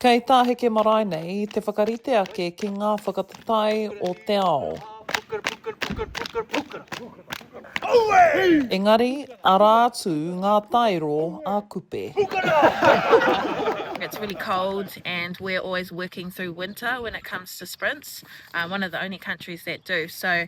Kei tā Heke Marae nei te whakarite ake ki ngā whakataetae o te ao. Engari, arā atu ngā taero a Kupe. It's really cold and we're always working through winter when it comes to sprints, one of the only countries that do. So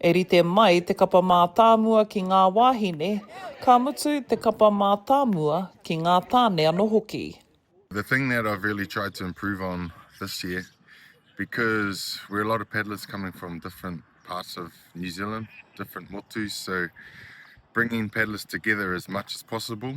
E rite mai te kapa mātāmua ki ngā wāhine, ka mutu te kapa mātāmua ki ngā tāne anō hoki. The thing that I've really tried to improve on this year because we're a lot of paddlers coming from different parts of New Zealand, different motus, so bringing paddlers together as much as possible.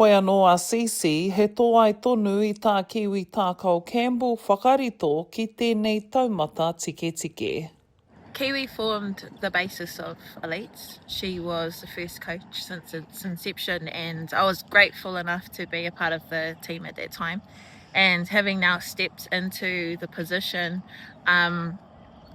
Hoi anō a Cece, he tōai tonu i tā Kiwi Tākao Campbell whakarito ki tēnei taumata tiketike. Kiwi formed the basis of Elites, she was the first coach since its inception and I was grateful enough to be a part of the team at that time and having now stepped into the position, umm,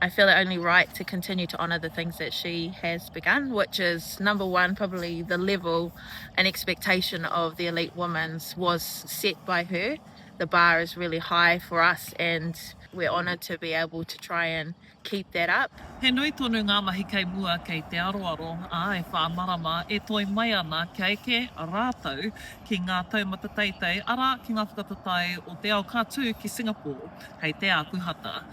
I feel it only right to continue to honour the things that she has begun, which is number one, probably the level and expectation of the elite women's was set by her. The bar is really high for us and we're honoured to be able to try and keep that up. He nui tonu ngā mahi kei mua kei te aroaro, ā, e whā marama e toe mai ana kia eke rātou ki ngā taumata teitei, arā, ki ngā whakataetae o te ao ka tū ki Singapore hei te ākuhata.